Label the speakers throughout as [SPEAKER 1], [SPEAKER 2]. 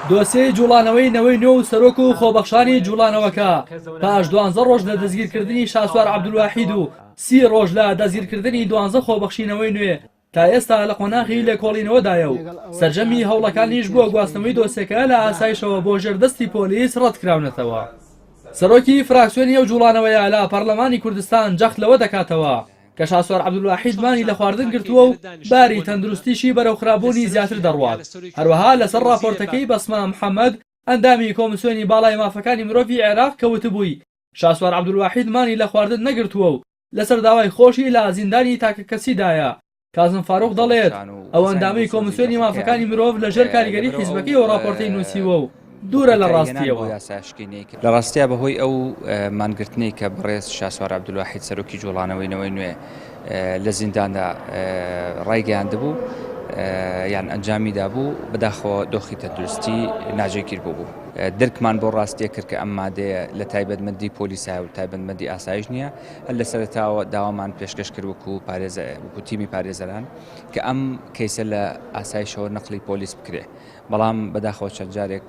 [SPEAKER 1] دۆسێی جوڵانەوەی نەوەی نۆ و سەرۆک و خۆبەخشانی جوڵانەوەکە پاش دوانزە ڕۆژ لە دەستگیرکردنی شاسوار عەبدولواحید و سی ڕۆژ لە دەستگیرکردنی دوانزە خۆبەخشی نەوەی نوێ تا ئێستا لە قۆناغی لێکۆڵینەوەدایە و سەرجەمی هەوڵەکانیش بۆ گواستنەوەی دۆسێکە لە ئاسایشەوە بۆ ژێر دەستی پۆلیس ڕەتکراونەتەوە. سەرۆکی فراکسیۆنی ئەو جوڵانەوەیە لە پەرلەمانی کوردستان جەخت لەوە دەکاتەوە، کە شاسوار عەبدولواحید مانی لە خواردن گرتووە و باری تەندروستیشی بەرەو خراپبوونی زیاتر دەڕوات، هەروەها لەسەر ڕاپۆرتەکەی بەسمە محەمەد ئەندامی کۆمسیۆنی باڵای مافەکانی مرۆڤی عێراق کە وتبووی شاسوار عەبدولواحید مانی لە خواردن نەگرتووە و لەسەر داوای خۆشی لە زیندانی تاکەکەسیدایە، کازم فاروق دەڵێت، ئەو ئەندامەی کۆمسیۆنی مافەکانی مرۆڤ لەژێر کاریگەری حیزبەکەیەوە ڕاپۆرتەی نووسیوە و. دوورە لە ڕاستیەوە لە
[SPEAKER 2] ڕاستیا بەهۆی ئەو مانگرتنەی کە بەڕێز شاسوار عبدولواحید سەرۆکی جوڵانەوەی نەوەی نوێ لە زینداندا ڕایگەیاند بوو یان ئەنجامی دابوو بەداخەوە دۆخی تەندروستی ناجێگیر بوو بوو درکمان بۆ ڕاستیە کرد کە ئەم مادەیە لە تایبەتمەندی پۆلیسای و تایبەتمەندی ئاسایش نییە هەر لە سەرتاوە داوامان پێشکەش کرد وکو پارێزە وکو تیمی پارێزەران کە ئەم کەیسە لە ئاسایشەوە نەقلی پۆلیس بکرێ بەڵام بەداخەوە چەند جارێک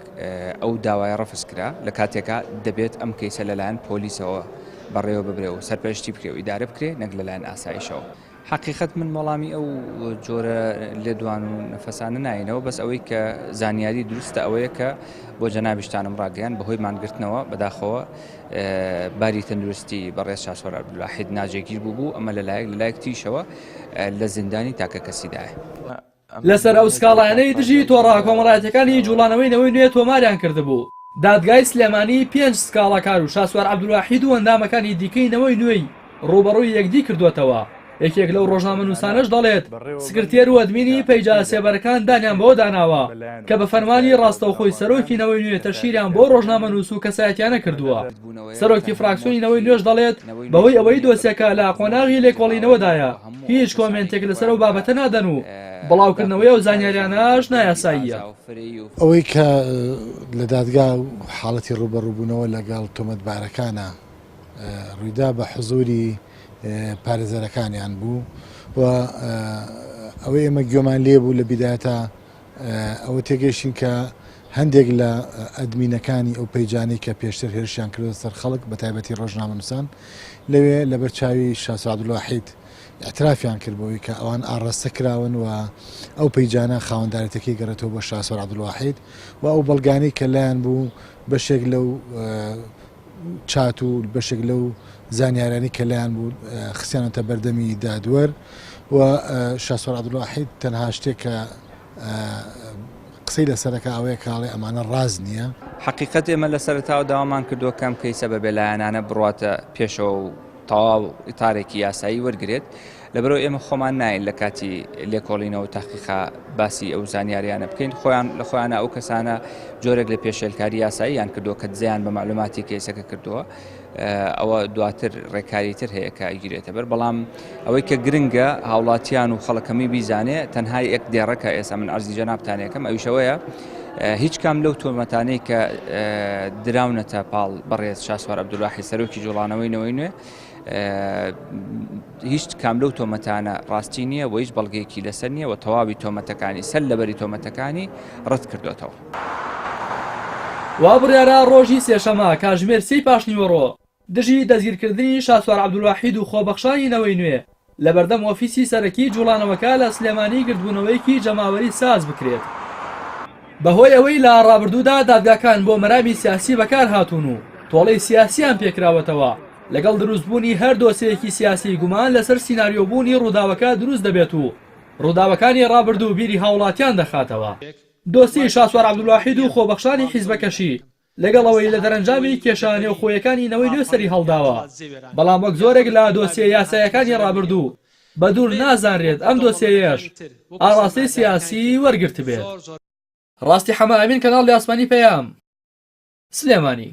[SPEAKER 2] ئەو داوایە ڕەفز کرا لە کاتێکا دەبێت ئەم کەیسە لەلایەن پۆلیسەوە بەڕێوە ببرێ و سەرپەرشتی بکرێ و ئیدارە بکرێ نەک لەلایەن ئاسایشەوە حقیقت من وەڵامی ئەو جۆرە لێدوان و نەفەسانە ناینەوە بەس ئەوەی کە زانیاری دروستە ئەوەیە کە بۆ جەنابیشتانم ڕاگەیان بەهۆی مانگرتنەوە بەداخەوە باری تەندروستی بەڕێز شاسۆر عبدلاحید ناجێگیر بوو بوو ئەمە لەلایەک لەلایەک تیشەوە لە زیندانی تاکە کەسیدایە. لەسەر
[SPEAKER 1] ئەو سکاڵایانەی دژی تۆڕە کۆمەڵایەتییەکانی جووڵانەوەی نەوەی نوێ تۆماریان کردبوو، دادگای سلێمانی پێنج سکاڵاکار و شاسوار عەبدولواحید و ئەندامەکانی دیکەی نەوەی نوێی ڕووبەڕووی یەکدی کردووەتەوە، یەکێک لەو ڕۆژنامەنووسانەش دەڵێت، سکرتێر و ئەدمینی پەیجە سێبەرەکان دانیان بەوەدا ناوە کە بە فەرمانی ڕاستەوخۆی سەرۆکی نەوەی نوێ تەشهیریان بۆ ڕۆژنامەنووس و کەسایەتییانە کردووە. سەرۆکی فراکسیۆنی نەوەی نوێش دەڵێت، بەهۆی ئەوەی دۆسیەکە لە قۆناغی لێکۆڵینەوەدایە، هیچ کۆمێنتێک لەسەر ئەو بابەتە نادەن و بڵاوکردنەوەی ئەو زانیاریانەش نایاساییە. ئەوەی
[SPEAKER 3] کە لە دادگا و حاڵەتی ڕووبەڕووبوونەوە لەگەڵ تۆمەتبارەکانە ڕوویدا بە حزووری پارێزەرەکانیان بوو و ئەوەی ئێمە گوێمان لێبوو لە بیدایەتە ئەوە تێگەیشتین کە هەندێک لە ئەدمینەکانی ئەو پەیجانەی کە پێشتر هێرشیان کردوە سەر خەڵک بە تایبەتی ڕۆژنامەنووسان لەوێ لەبەر چاوی شا سەعدولواحید اعترافیان کرد بۆی کە ئەوان ئاڕاستە کراون و ئەو پەیجانە خاوەندارێتەکەی گەڕێتەوە بۆ شاسۆر عبدواحید و ئەو بەڵگانەی کە لایەن بوو بەشێک لەو چات و بەشێک لەو زانیارانی کە لایان بوو خسیانەتە بەردەمی دادوەر و شاسۆر عبدڵاحید تەنها شتێک کە قسەی لەسەرەکە ئەوەیە کاڵێ ئەمانە ڕاز نییە حقیقت ئێمە لە
[SPEAKER 2] سەرتاوە داوامان کردووە کەم کەیسە بە بێلایەنانە بڕاتە پێشەوە و تەواو ئتارێکی یاسایی وەرگێت لەبەرئەوە ئێمە خۆمان نایەین لە کاتی لێکۆڵینەوە تاقیقا باسی ئەو زانیاریانە بکەین خۆیان لە خۆیانە ئەو کەسانە جۆرێک لە پێشێلکاری یاساییان کردووە کە دزیان بە معلوماتی کەیسەکە کردووە ئەوە دواتر ڕێکاری تر هەیە کە گیرێتە بەر بەڵام ئەوەی کە گرنگە هاوڵاتیان و خەڵکەمی بیزانێ تەنها یەک دێڕەکە ئێستا من ئەرزی جەنابتانەکەم ئەویشەوەیە هیچ کام لەو تۆمەتانەی کە دراونەتە پاڵ بەڕێز شاسوار عبدولاحی سەرۆکی جوڵانەوەی نەوەی نوێ هیچ کام لەو تۆمەتانە ڕاستی نییە و هیچ بەڵگەیەکی لەسەر نییە و تەواوی تۆمەتەکانی سەر لەبەری تۆمەتەکانی ڕەت کردوێتەوە.
[SPEAKER 1] وا بڕیارە ڕۆژی سێشەممە کاتژمێر سێی پاشنیوەڕۆ دژی دەستگیرکردنی شاسوار عەبدولواحید و خۆبەخشانی نەوەی نوێ لەبەردەم ئۆفیسی سەرەکی جوڵانەوەکە لە سلێمانی گردبوونەوەیەکی جەماوەری ساز بکرێت بەهۆی ئەوەی لە ڕابردوودا دادگاکان بۆ مەرامی سیاسی بەکارهاتوون و تۆڵەی سیاسیان پێکراوەتەوە لەگەڵ دروستبوونی هەر دۆسێیەکی سیاسی گومان لەسەر سیناریۆبوونی ڕووداوەکە دروست دەبێت و ڕووداوەکانی ڕابردوو بیری هاوڵاتیان دەخاتەوە. دۆسیەی شاسوار عەبدولواحید و خۆبەخشانی حیزبەکەشی لەگەڵ ئەوەی لە دەرەنجامی کێشە نێوخۆیەکانی نەوەی نوێ سەری هەڵداوە، بەڵام وەک زۆرێک لە دۆسیە یاسایەکانی ڕابردوو، بەدوور نازانرێت ئەم دۆسیەیەش ئاڕاستەی سیاسی وەرگرتبێت. ڕاستی حەمە ئەمین کەناڵی ئاسمانی پەیام سلێمانی.